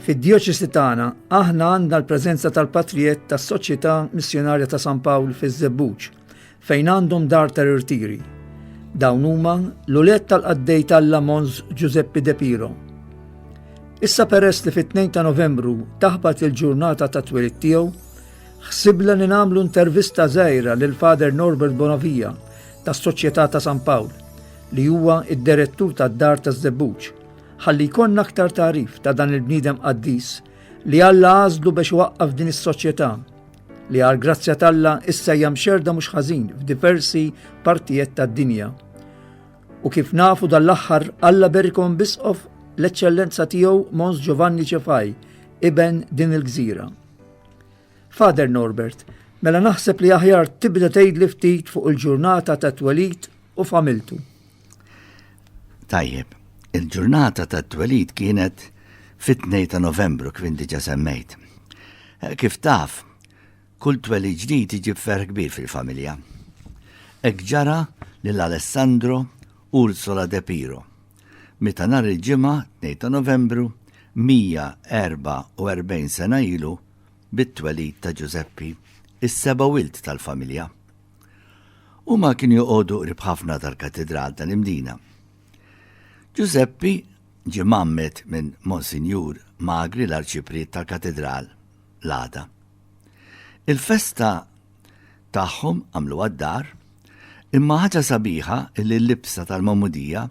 Fid-djoċesi tagħna aħna għandna l-preżenza tal-patrijet tas-Soċjetà Missjonarja ta' San Pawl fiż-Żebbuġ. fejn għandhom dar ta' rirtiri. Dawn huma l-ulied tal-qaddej tal-la Mons Giuseppe De Piro. Issa peress li fit-2 ta' Novembru taħbat il-ġurnata ta' twilid tiegħu, ħsibla li nagħmlu intervista żgħira lil Father Norbert Bonavija tas-Soċjetà ta' San Pawl li huwa id-direttur tad-dar ta' Żebbuġ ħalli jkollna aktar tarif ta' dan il-bniedem qaddis li Alla għażlu biex waqqaf din is-soċjetà li għal grazzja talla issa hija mxerda mhux ħażin f'diversi partijiet tad-dinja. U kif nafu dal-aħħar Alla berikom bisqof l-eċċellenza tiegħu Mons Giovanni Ċefaj, iben din il-gżira. Father Norbert, mela naħseb li aħjar tibda tgħidli ftit fuq il-ġurnata ta' twelid u familtu. Tajjeb, il-ġurnata ta' twelid kienet fit-2 ta' Novembru kif diġa semmejt. Eh, kif taf, kull twelid ġdid iġib ferħ kbir fil-familja. Ek ġara lil Alessandro Ursola De Piro, meta nhar il-ġimgħa 2 ta' Novembru 144 sena ilu bit-twelid ta' Ġużeppi, is-seba' wild tal-familja. Huma kienu joqogħdu qrib ħafna tal-Katidral tal-Imdina. Ġużeppi ġie mgħammed minn Monsinjur Magri l-Arċipriet tal-Katidral l-għada. Il-festa tagħhom għamluha d-dar, imma ħaġa sabiħa li l-libsa tal-magħmudija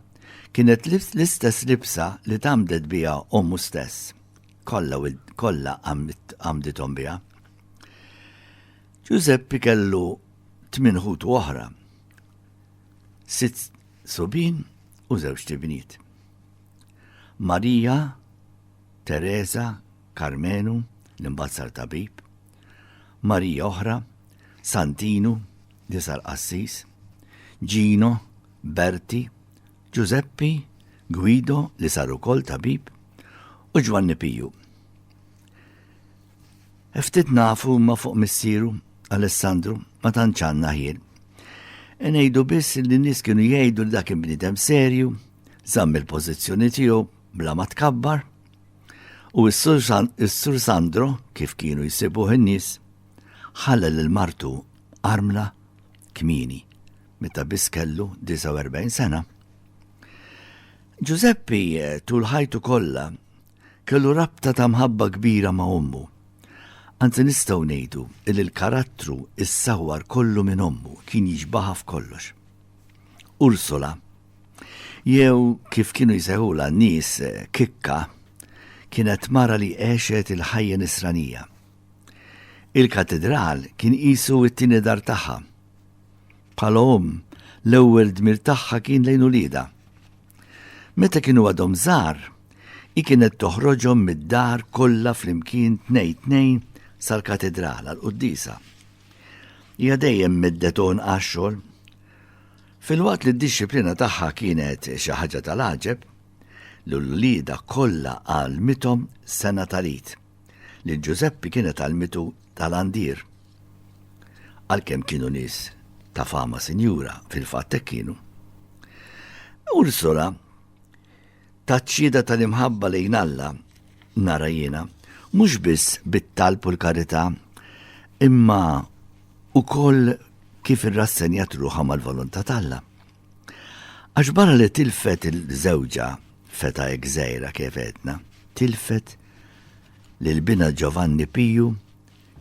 kienet l-istess libsa li tgħammdet biha ommu stess. Kollha kollha għamdithom biha. Ġużeppi kellu tmien ħutu oħra, sitt subin u żewġ tibniet. Marija, Teresa, Karmenu, l-imbazzar tabib, Marija oħra, Santinu, li sar qassis, Gino, Berti, Ġużeppi, Guido li sar ukoll tabib u Ġwanni Piju. Ftit nafu ma fuq missieru, Alessandru, ma tanċanna ħin. Ngħidu biss li nies kienu jgħidu li dak il-bniedem serju, żamm il-pożizzjoni tiegħu bla ma tkabbar. U s-sur Sandro, kif kienu jsibuh in-nies, ħalla lil martu armla kmini, meta biss kellu 49 sena. Ġużeppi eh, tul ħajtu kollha Kellu rabta ta' mħabba kbira ma' ommu. Anzi nistgħu ngħidu illi l-karattru issawwar kollu minn ommu, kien jixbahha f'kollox. Ursula, jew kif kienu jsejħulha n-nies Kikka, kienet mara li għexet il-ħajja nisranija. Il-Katidral kien qisu t-tieni dar tagħha. Bħala omm, l-ewwel dmir tagħha kien lejn uliedha. Meta kienu għadhom żgħar, hi kienet toħroġhom mid-dar kollha flimkien tnej tnejn sal-katedral għall-quddisa. Hija dejjem middeton għax-xogħol. Filwaqt li d-dixxiplina tagħha kienet xi ħaġa tal-għaġeb, l-ulieda kollha għalmithom sena tal-id. Lil Ġużeppi kienet għallmitu ta' landier. Għalkemm kienu nies ta' fama sinjura, fil-fatt hekk kienu. Ursula tat xhieda tal-imħabba lejn Alla, nara jiena, mhux biss bit-talb u l-karità, imma ukoll kif irrassenjat ruħha mal-volontà t'Alla. Għax barra li tilfet il-żewġa feta gżejra kif għedna, tilfet li l-bina Giovanni Piju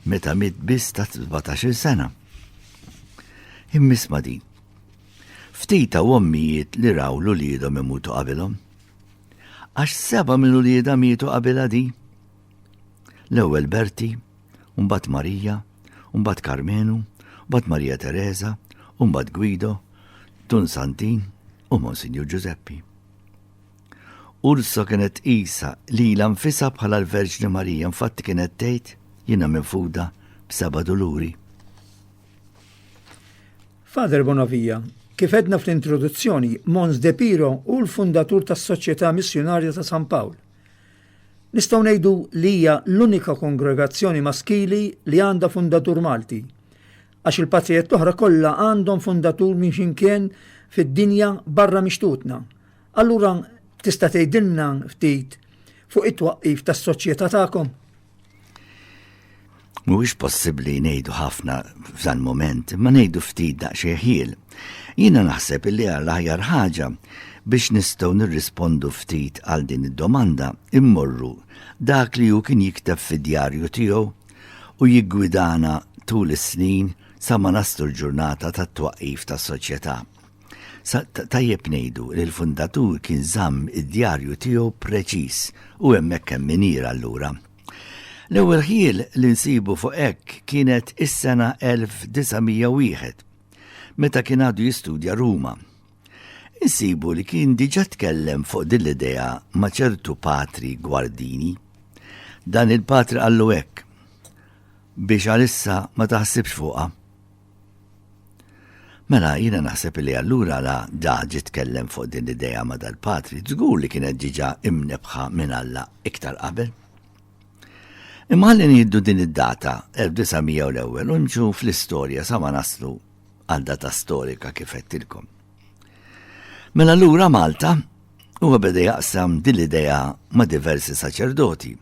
meta mit biss ta' 17 sena. Immisma din. Ftita u ommijiet li raw l-uliedhom imutu qabilhom. Għax seba minn uliedha mietu qabilha di. L-ewwel Berti, u mbagħad Marija, u mbagħad Karmenu, u mbagħad Marija Tereża, u mbagħad Gwido, Dun Santin u Monsinjur Ġużeppi. Urso kienet isa li la nfisa bħala l-Verġni Marija infatti kienet tgħid jiena minfuda b'seba' duluri. Father Bonavija, kif edna fl-introduzzjoni, Mons De Piro hu l-fundatur tas-Soċjetà Missjunarja ta' San Pawl. Nistgħu ngħidu li hija l-unika kongregazzjoni maskili li għandha fundatur Malti, għax il-patrijiet l-oħra kollha għandhom fundatur minn xinkien fid-dinja barra mixtutna. Allura tista' tgħidilna ftit fuq it-twaqqif tas-soċjetà tagħkom? Mhuwiex possibbli ngħidu ħafna f'dan mument, imma ngħidu ftit daqsxejn ħjiel. Jiena naħseb illi għal aħjar ħaġa biex nistgħu nirrispondu ftit għal din id-domanda immorru dak li hu kien jikteb fid-djarju tiegħu u jiggwidana tul is-snin sa ma naslu l-ġurnata tat-twaqqif tas-Soċjetà. Sa tajjeb ngħidu li l-fundatur kien żamm id-djarju tiegħu preċiż u hemmhekk hemm miniera allura. L-ewwel ħjiel li nsibu fuq hekk kienet is-sena 1901, meta kien għadu jistudja Ruma. Insibu li kien diġà tkellem fuq din l-idea ma' ċertu patri gwardini. Dan il-patri qallu hekk biex għalissa ma taħsibx fuqha. Mela, jiena naħseb li allura la Da ġie tkellem fuq din l-idea ma' dal-patri, żgur li kienet diġà imnebbħa minn Alla iktar qabel. Imma ħalli nieħdu din id-data, 1900 u l-ewwel, u nimxu fl-istorja sa ma naslu għal data storika kif għedtilkom. Mela allura Malta, huwa beda jaqsam din l-idea ma' diversi saċerdoti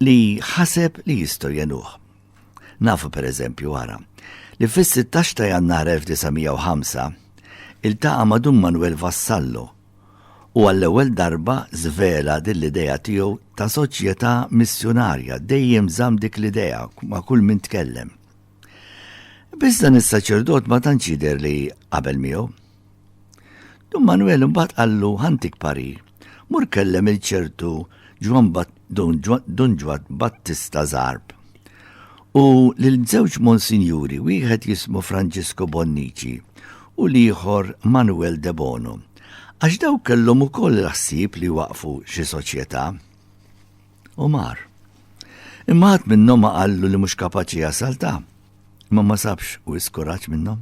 li ħaseb li jistgħu jgħinuh. Nafu pereżempju, ara, li fis-16 ta' Jannar 1905 iltaqa' ma' Dun Manwel Vassallo u għall-ewwel darba żvela din l-idea tiegħu ta' soċjetà missjunarja, dejjem żamm dik l-idea ma' kull min tkellem. Biss dan is-saċerdot ma tantx jidher li qabel miegħu. Dun Manuel imbagħad qallu ħantik parir. Mur kellem il-ċertu Ġwan Dun Ġwad Battista Zarb. U lil żewġ Monsinjuri wieħed jismu Franġisku Bonnici u l-ieħor Manuel Debono. Għax dawk kellhom ukoll il-ħsieb li waqfu xi soċjetà. U mar. Imma ħadd minnhom ma qallu li mhux kapaċi jasal ta' ma ma sabx u iskuraġġ minnhom.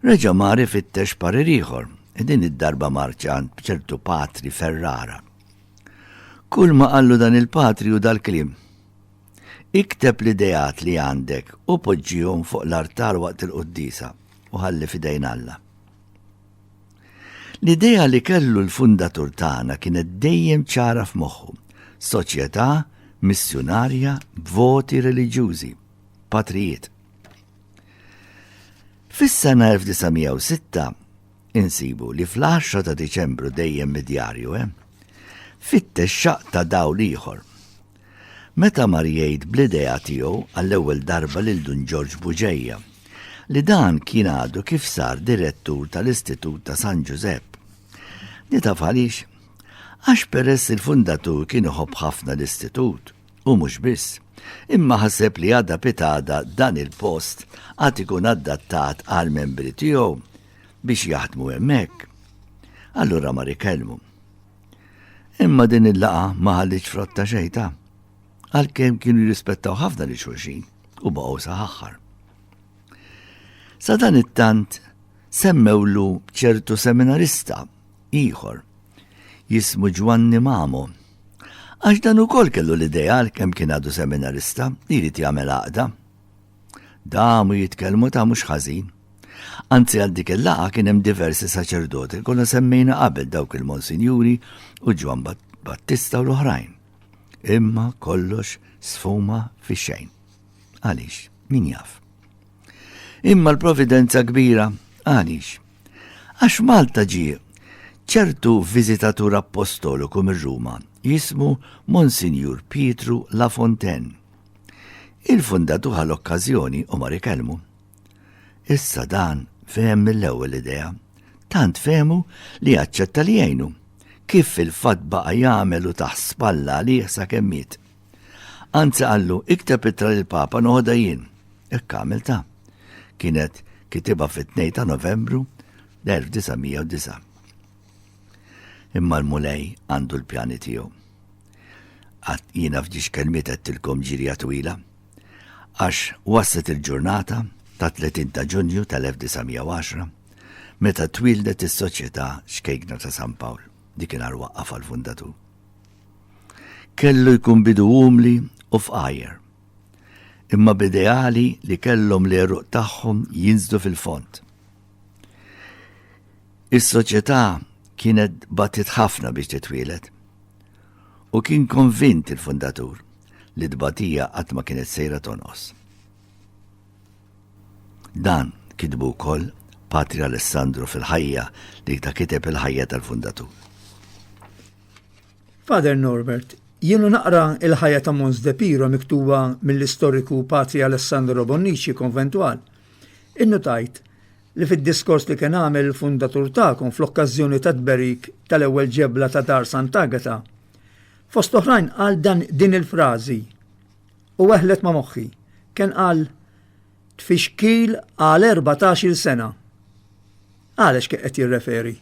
Reġa' mar ifittex parir ieħor, din id-darba marx għand ċertu patri Ferrara. Kull ma qallu dan il-patri hu dal-kliem, Ikteb l-ideat li għandek u poġġihom fuq l-artal waqt il-quddiesa u ħalli f'idejn Alla. L-idea li kellu l-fundatur tagħna kienet dejjem ċara f'moħħu, soċjetà missjunarja b'voti reliġjużi, patrijiet. Fis-sena 1906 insibu li fl-10 ta' Diċembru dejjem mid-djarju, eh? Fittex xaq ta' dawl ieħor. Meta mar jgħid bl-idea tiegħu għall-ewwel darba lil Dun Ġorġ Buġejja li dan kien għadu kif sar direttur tal-Istitut ta' San Ġużepp. Nitaf għaliex? Għax peress il-fundatur kien iħobb ħafna l-istitut U mhux biss, imma ħaseb li għada pitada dan il-post għad ikun addattat għal membri tiegħu biex jaħdmu hemmhekk. Allura mar ikellmu. Imma din il-laqa ma ħalliċ frotta xejta, għalkemm kienu jirrispettaw ħafna li xulxin u baqgħu saħħar. Sa dan it-tant semmewlu ċertu seminarista ieħor, jismu Ġwanni Mamo. Għax dan ukoll kellu l-ideal kemm kien għadu seminarista li jrid jagħmel għaqda. Damu jitkellmu ta' mhux ħażin. Anzi għal dik il-laqa kien hemm diversi saċerdoti kollha semmejna qabel dawk il-Monsinjuri u Ġwan Battista u l-oħrajn. Imma kollox sfuma fi xejn. Għaliex, min jaf. Imma l-providenza kbira, għaliex, Għax Malta ġie ċertu viżitatur appostoliku mir-Ruma jismu Monsinjur Pietru La Fontaine. Il-Fundat hu ħa l-okkażjoni u mar ikellmu. Issa dan fehem mill-ewwel l-idea, tant fehmu li aċċetta li jgħinu, kif fil-fatt baqa' jagħmel u taħt spalla għalih sakemm miet. Anzi qallu, ikteb ittra lil Papa noħodha jien. Hekk għamilta. Kienet kitiba fit-2 ta' Novembru 1909. Imma l-Mulej għandu l-pjani tiegħu. Għat jiena f'dix kelmiet għedtilkom ġirja twila, għax waslet il-ġurnata ta' 30 ta' Ġunju tal-1910 meta twildet is-Soċjetà Xkejkna ta' San Pawl, dik kien waqqaf għal-fundatur. Kellu jkun bidu umli u fqajr, imma b'ideali li kellhom l-għeruq tagħhom jinżlu fil-fond. Is-soċjetà kienet battiet ħafna biex titwieled, u kien konvint il-fundatur li t-tbatija qatt ma kienet sejra tonqos. Dan kitbu wkoll Patri Alessandro fil-ħajja li ta' kiteb il-ħajja tal-fundatur. Father Norbert, jienu naqra il-ħajja ta' Mons De Piro miktuba mill-istoriku Patri Alessandro Bonnici konventwal. Innutajt li fid-diskors li kien għamel il-fundatur tagħkom fl-okkażjoni tat-tberik tal-ewwel ġebla ta' Dar Sant'Agata, fost oħrajn qal dan din il-frażi, u weħlet ma' moħħi. Ken għal tfixkil għal erbatax-il sena. Għalex kien qed jirreferi?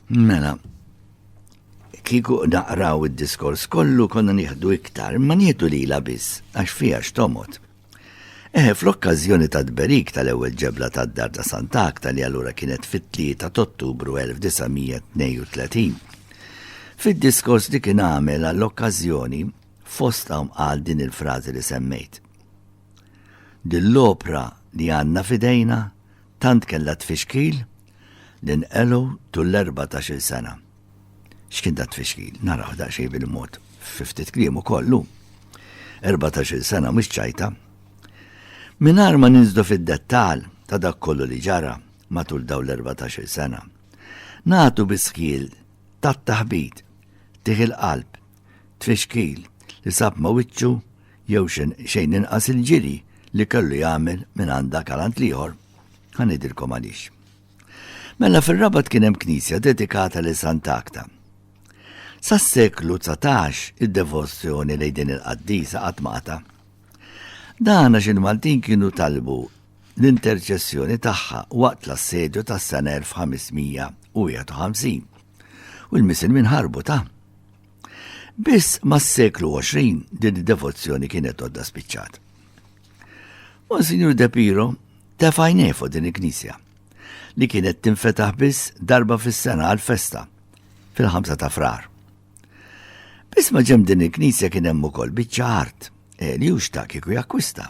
Mela, kiku naqraw id-diskors kollu konna nieħdu iktar, ma nieħdu lila biss, għax fija x'tomot. Eh, fl-okkażjoni tat-tberik tal-ewwel ġebla tad-dar ta' Santa Akta li allura kienet fit-3 ta' Ottubru 1932. Fid-diskors li kien għamel għall-okkażjoni fost hawn qal din il-frażi li semmejt. Dill-opra li għandna fidejna tant kellha tfixkil li nqelu tul l-14 sena. X'kien da tfixkil? Naraw daqsxejn bil-mod fi ftit kliem ukoll hu. 14-il sena mhux ċajta. Mingħajr ma ninżlu fid-dettall ta' dak kollu li ġara matul dawn l-erbatax-il sena, nagħtu biss ħjiel tat-taħbit, tih il-qalb, tfixkil li sab ma' wiċċu jew xejn inqas il-ġiri li kellu jagħmel mingħand dak għal għand l-ieħor. Ħa ngħidilkom għaliex. Mela fir-Rabat kien hemm knisja dedikata lil Sant'Agta. Sas-seklu 19 id-devozzjoni lejn din il-qaddisa qatt ma qata'. Dan għax il-Maltin kienu talbu l-interċessjoni tagħha waqt l-assedju tas-sena 1551 u l-Misilmin ħarbu ta'. Biss mas-seklu 20 din id-devozzjoni kienet għodda spiċċat. Monsignor De Piro tefa' jnej fuq din il-knisja li kienet tinfetaħ biss darba fis-sena għal-festa fil-5 ta' frar. Biss ma ġem din il-knisja kien hemm ukoll biċċa art eh, li hux ta' kieku jakkwista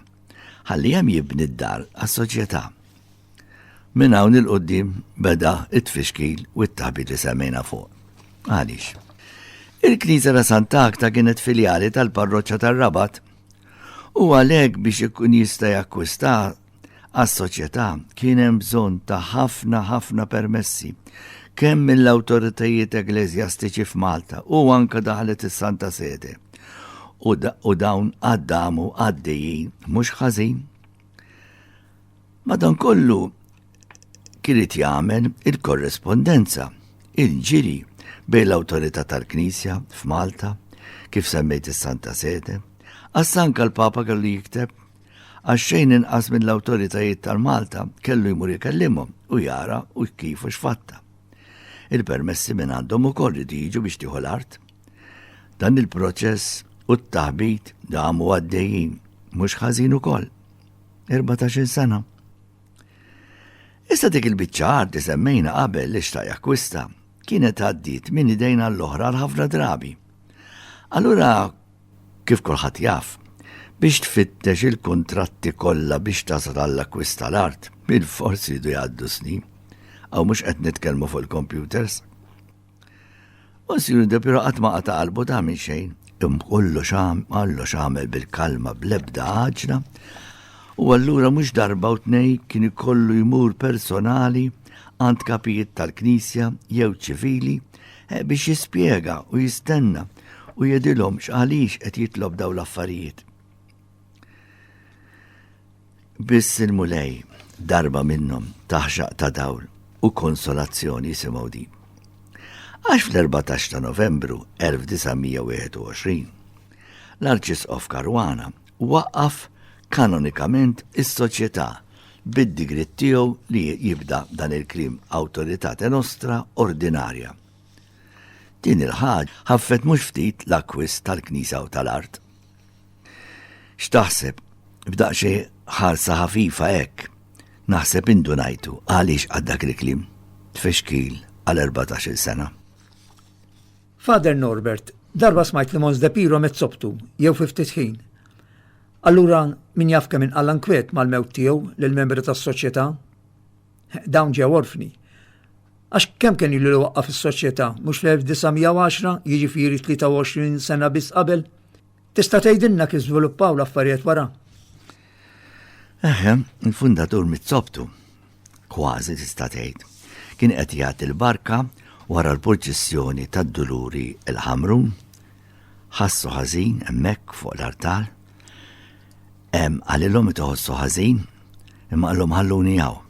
ħalli hemm jibni d-dar għas-soċjetà. Minn hawn il-qoddim beda it-tfixkil u t-taħbit li semmejna fuq. Għaliex? Il-Knisja ta' Santa Akta kienet filjali tal-parroċċa tar-Rabat U għalhekk biex ikun jista' jakkwista għas-soċjetà kien hemm bżonn ta' ħafna ħafna permessi kemm mill-awtoritajiet ekleżjastiċi f'Malta u anke daħlet is-Santa Sede. U dawn għaddamu għaddejjin mhux ħażin. Madankollu, kienet jagħmel il-korrespondenza, il-ġiri bejn l-awtorità tal-Knisja f'Malta, kif semmejt is-Santa Sede, għax anka l-Papa kellu jikteb għax xejn inqas minn l-awtoritajiet tal-Malta kellu jmur ikellimhom u jara u kif u x'fatta. Il-permessi minn għandhom ukoll li jiġu biex tieħu l-art. Dan il-proċess u t-taħbit damu għaddejjin mhux ħażin ukoll. 14 sena. Issa dik il-biċċa art li semmejna qabel li xtaq jakkwista kienet għaddiet minn idejn għall-oħra għal ħafna drabi. Allura, kif kulħadd jaf, biex tfittex il-kuntratti kollha biex tasal għall-akkwist tal-art, bil-forsi jdu jgħaddu snin. Aw mhux qed nitkellmu fuq il-computers. U Signor De Piro qatt ma qata' qalbu ta' minn xejn. Kollox kollox għamel bil-kalma bl-ebda għaġla. U allura mhux darba u tnej kien ikollu jmur personali għand kapijiet tal-Knisja jew ċivili eh, biex jispjega u jistenna u jedilhom x'għaliex qed jitlob daw l-affarijiet. Biss il-Mulej darba minnhom taħxaq ta' dawl u konsolazzjoni jisimgħu din. Għax fl-14 ta' Novembru 1921, l-Arċisqof Caruana waqqaf kanonikament is-Soċjetà bid-digriet tiegħu li jibda dan il-kliem Autoritate Nostra Ordinarja. Din il-ħaġ ħaffet mhux ftit l-akkwist tal-Knisja u tal-art. X'taħseb? B'daqxi ħarsa ħafifa hekk. Naħseb indunajtu għaliex għaddak il-klim. Tfexkil għal 14 sena. Father Norbert, darba smajt li Mons Depiro met sobtu, jew fiftit ħin. Allura min jaf kemm inqalla nkwiet mal-mewt tiegħu lill-membri tas-soċjetà? Dawn ġew orfni. Għax kemm kien ilu li waqqaf is-soċjetà, mhux fl-1910, jiġifieri 23 sena biss qabel? Tista' tgħidilna kif żviluppaw l-affarijiet wara? Eħe, il-fundatur mit-sobtu, kważi tista' tgħid, kien qed jagħti l-barka wara l-purċissjoni tad-duluri il-ħamrun, ħassu ħażin hemmhekk fuq l-artal, Qalilhom qed iħossu ħażin, imma qalhom ħalluni hawn.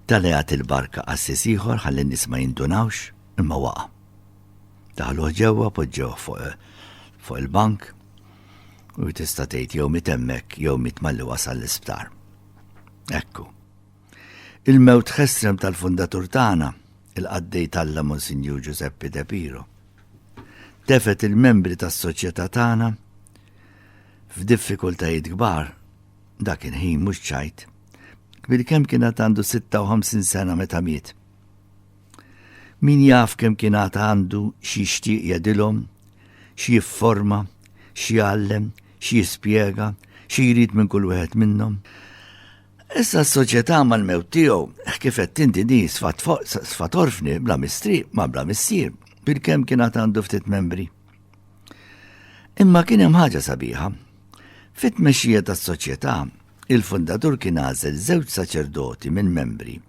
Talgħet il-barka qassis ieħor ħalli n-nies ma jindunawx, imma waqa'. Daħluh ġewwa, poġġewh fuq il-bank, u tista' tgħid jew miet hemmhekk jew miet malli wasal l-isptar. Ekku. Il-mewt ħesrem tal-fundatur tagħna, il-qaddej talla Monsinjur Giuseppe De Piro. Tefet il-membri tas-soċjetà tagħna f'diffikultajiet kbar, dak il-ħin mhux ċajt, kbir kemm kien għad għandu 56 sena meta miet. Min jaf kemm kien għad għandu xi jixtieq jedilhom, xi jifforma, xi jgħallem, xi jispjega, xi jrid minn kull wieħed minnhom. Issa s-soċjetà mal-mewt tiegħu, kif qed tinti di sfat orfni bla mistri ma bla missier, bil-kemm kien għad għandu ftit membri. Imma kien hemm ħaġa sabiħa. Fit-tmexxija tas-soċjetà, il-fundatur kien għażel żewġ saċerdoti minn membri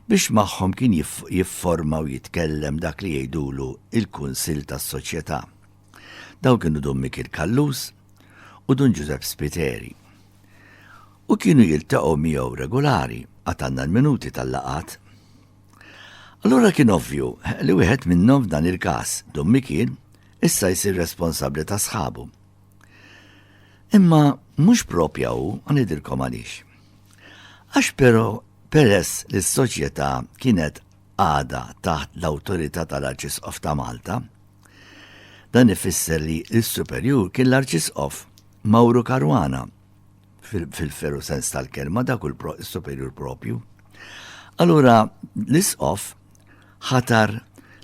biex magħhom kien jifforma u jitkellem dak li jgħidulu il-Kunsill tas-Soċjetà. Daw kienu Dun Mikil Kallus u Dun Ġużepp Spiteri. U kienu jiltaqgħu miegħu regulari għad għandna l-minuti tal-laqat. Allura kien ovvju li wieħed minnhom f'dan il-każ, Dun Mikiel, issa jsir responsabbli ta' sħabu. Imma mhux propja hu, ngħidilkom għaliex. Għax però peress li s-soċjetà kienet għada taħt l-awtorità tal-Arċisqof ta' Malta, dan ifisser li l-Superjur kien l-Arċisqof Mauro Caruana fil-veru sens tal-kelma dak u l-superjur propju. Allura l-isqof ħatar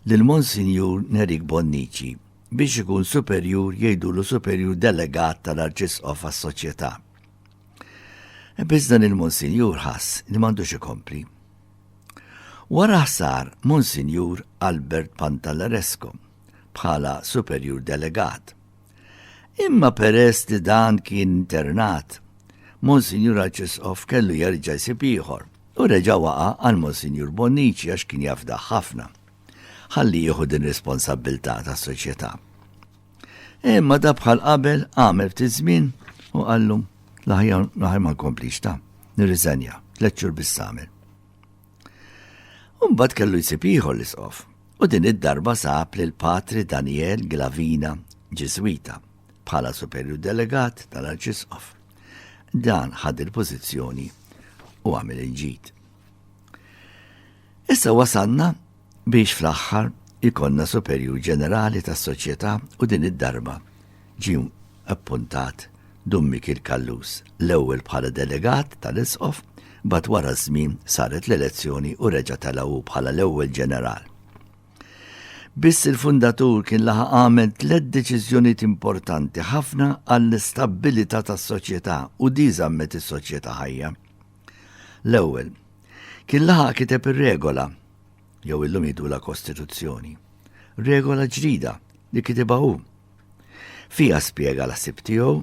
lil Monsinjur Nerik Bonnici biex ikun superjur jgħidulu superjur delegat tal-arċisqof għas-soċjetà. E biss dan il-Monsinjur ħass li m'għandux ikompli. Wara ħsar Monsinjur Albert Pantalaresco bħala superjur delegat Imma peress li dan kien internat, Monsinjur Arċisqof kellu jerġa' jsib ieħor u reġa' waqa' għal Monsinjur Bonnici għax kien jafdah ħafna ħalli jieħu din responsabbiltà tas-soċjetà. Imma da bħal qabel għamel ftit żmien u qallu l-aħjar ma nkomplix ta' nirriżenja, tliet xhur biss għamel. Umbad kellu jsib ieħor l-isqof, u din id-darba sab lil Patri Daniel Glavina, Ġiżwita, bħala superju delegat tal-arċisqof. Dan ħad il-pożizzjoni u għamel il-ġid. Issa wasalna Biex fl-aħħar ikollna Superjur Ġenerali tas-Soċjetà u din id-darba ġie appuntat Dun Mikiel Callus, l-ewwel bħala delegat tal-Isqof, mbagħad wara ż-żmien saret l-elezzjoni u reġa' tela' hu bħala l-ewwel Ġeneral. Biss il-Fundatur kien laħaq għamel tliet deċiżjonijiet importanti ħafna għall-istabbilità tas-Soċjetà u di żammet is-Soċjetà ħajja. L-ewwel, kien laħaq kiteb ir-regola jew illum jidu la Kostituzzjoni. Regola ġdida li kitibha hu. Fija spjega l sib tiegħu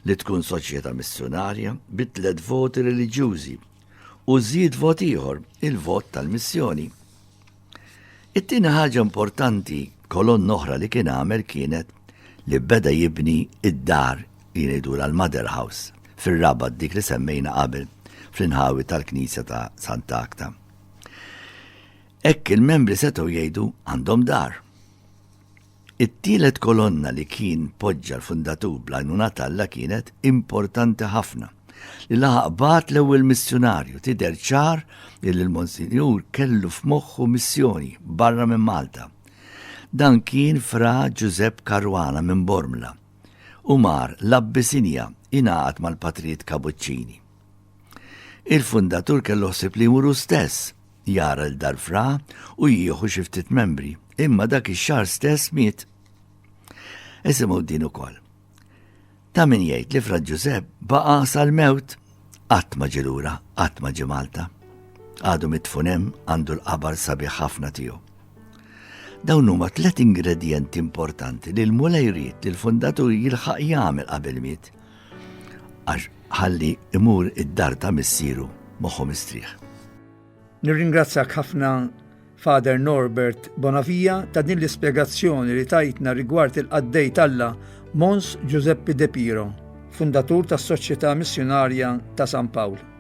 li tkun soċjetà missjonarja bitlet voti reliġjużi u żied vot ieħor il-vot tal-missjoni. It-tieni ħaġa importanti kolon oħra li kien għamel kienet li beda jibni id-dar li ngħidu l-Mother House fir-rabat dik li semmejna qabel fl-inħawi tal-Knisja ta' Santa Akta. Ekk il-membri setgħu jgħidu għandhom dar. It-tielet kolonna li kien poġġa l-fundatur bl-għajnuna t'Alla kienet importanti ħafna. Li laħaq bagħat l-ewwel missjunarju tidher ċar illi l-Monsinjur kellu f'moħħu missjoni barra minn Malta. Dan kien Fra Ġużepp Caruana minn Bormla u mar l-Abbisinja jingħaqad mal-Patrijiet Kabuċċini. Il-fundatur kellu ħsieb li jmur hu stess jara 'l dar Fra u jieħu xi ftit membri, imma dak ix-xahar stess miet. Isimgħu din ukoll. Ta' min jgħid li Fra Ġużepp baqa' sal-mewt qatt ma ġilura, qatt ma ġi Malta. Għadu mitfunem għandu l-qabar sabiħ ħafna tiegħu. Dawn huma tliet ingredjenti importanti li l-mulej jrid li l-fundatur jilħaq jagħmel qabel miet għax ħalli imur id-dar ta' missieru moħħu mistrieħ. Nirringrazzjak ħafna Father Norbert Bonavija ta' din l-ispjegazzjoni li tajtna rigward il-qaddej talla Mons Giuseppe De Piro, fundatur tas-Soċjetà Missjonarja ta' San Pawl.